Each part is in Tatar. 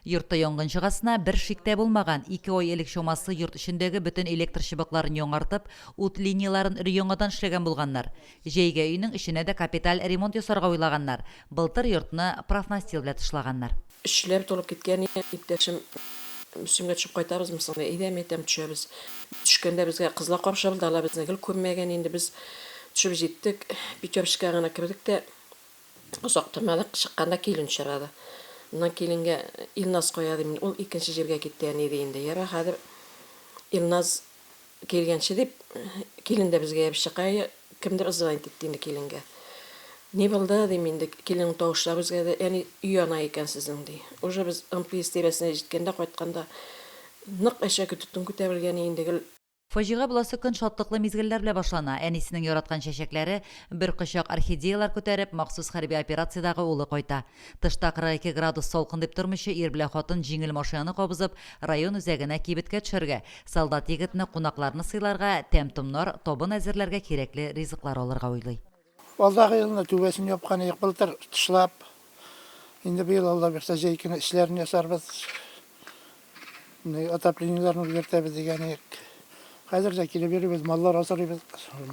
Йортта янгын чыгасына бер шик тә булмаган, ике ай элек чамасы йорт эчендәге бөтен электр чыбыкларын яңартып, ут линияләрен өр-яңадан эшләгән булганнар. Җәйгә өйнең эченә дә капиталь ремонт ясарга уйлаганнар, былтыр йортны профнастил белән тышлаганнар. Эшчеләр тулып киткән иптәшем, Мөслимгә төшеп кайтабызмы соң? Әйдә, мин әйтәм, төшәбез. Төшкәндә безгә кызлар каршы алды, алар безне гел күрмәгән инде. Без төшеп җиттек, Пятерочкага гына кердек тә, Озак тормадык, чыкканда килен очрады. Моннан киленгә Илназ кая дим мин, ул икенче җиргә китте, әни, ди инде. Ярар, хәзер Илназ килгәнче дип, килен дә безгә ябышчы. Кая кемдер звонить итте инде киленгә. Ни булды, дим инде, киленең тавышлары үзгәрде, әни, өй яна икән сезнең, ди. Уже без МТС тирәсенә җиткәндә, кайтканда, нык әшәке төтен күтәрелгән инде, гел. Фаҗига буласы көн шатлыклы мизгелләр белән башлана, әнисенең яраткан чәчәкләре, бер кочак орхидеяләр күтәреп, махсус хәрби операциядәге улы кайта. Тышта 42 градус салкын дип тормыйча, ир белән хатын җиңел машинаны кабызып, район үзәгенә кибеткә төшәргә, солдат егетне, кунакларны сыйларга, тәм-томнар, табын әзерләргә кирәкле ризыклар алырга уйлый. Алдагы елны түбәсен япкан идек, былтыр тышлап. Инде быел Алла бирсә җәй көне эчләрен ясарбыз. Отоплениеләрне үзгәртәбез дигән идек. Хәзер дә килеп йөрибез, маллар асрыйбыз.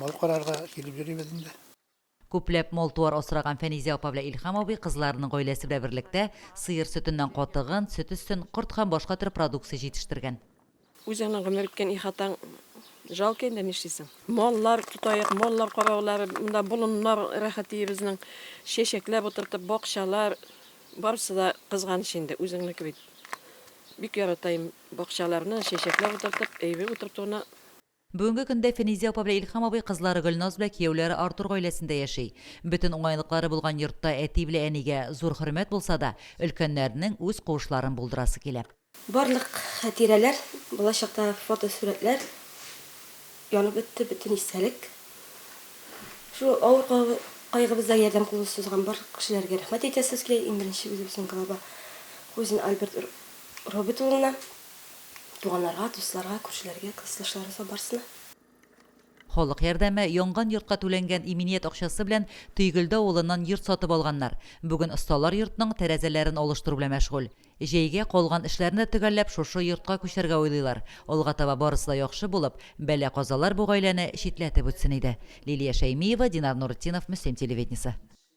Мал карарга килеп йөрибез инде. Күпләп мал-туар асраган Фәнизә апа белән Илһам абый кызларының гаиләсе белән берлектә сыер сөтеннән катыгын, сөт өстен, корт һәм башка төр продукция җитештергән. Үзеңнең гомер иткән ихатаң жалко инде, нишлисең. Маллар тотаек, маллар караулары, монда болыннар рәхәт өебезнең, чәчәкләп утыртып, бакчалар, барысы да кызганыч инде, үзеңнеке бит. Бик яратаем бакчаларны, чәчәкләп утыртып, өебе утыртуны. Бүгенге көндә Фәнизә апа белән Илһам абый кызлары Гөлназ белән кияүләре Артур гаиләсендә яши. Бөтен уңайлыклары булган йортта әти белән әнигә зур хөрмәт булса да, өлкәннәрнең үз куышларын булдырасы килә. Барлык хәтирәләр, бала чакта фотосурәтләр янып бетте, бөтен истәлек. Шул авыр кайгыбызда ярдәм кулы сузган барлык кешеләргә рәхмәт әйтәсебез килә, иң беренче үзебезнең глава Хузин Альберт Робет улына. Туганнарга, дусларга, күршеләргә, классташларыбызга, барысына. Халык ярдәме, янган йортка түләнгән иминият акчасы белән Төйгелде авылыннан йорт сатып алганнар. Бүген осталар йортның тәрәзәләрен алыштыру белән мәшгуль. Җәйгә калган эшләрне дә төгәлләп шушы йортка күчәргә уйлыйлар. Алга таба барысы да яхшы булып, бәла-казалар бу гаиләне читләтеп үтсен иде. Лилия Шәймиева, Динар Нуретдинов, Мөслим телевидениесе.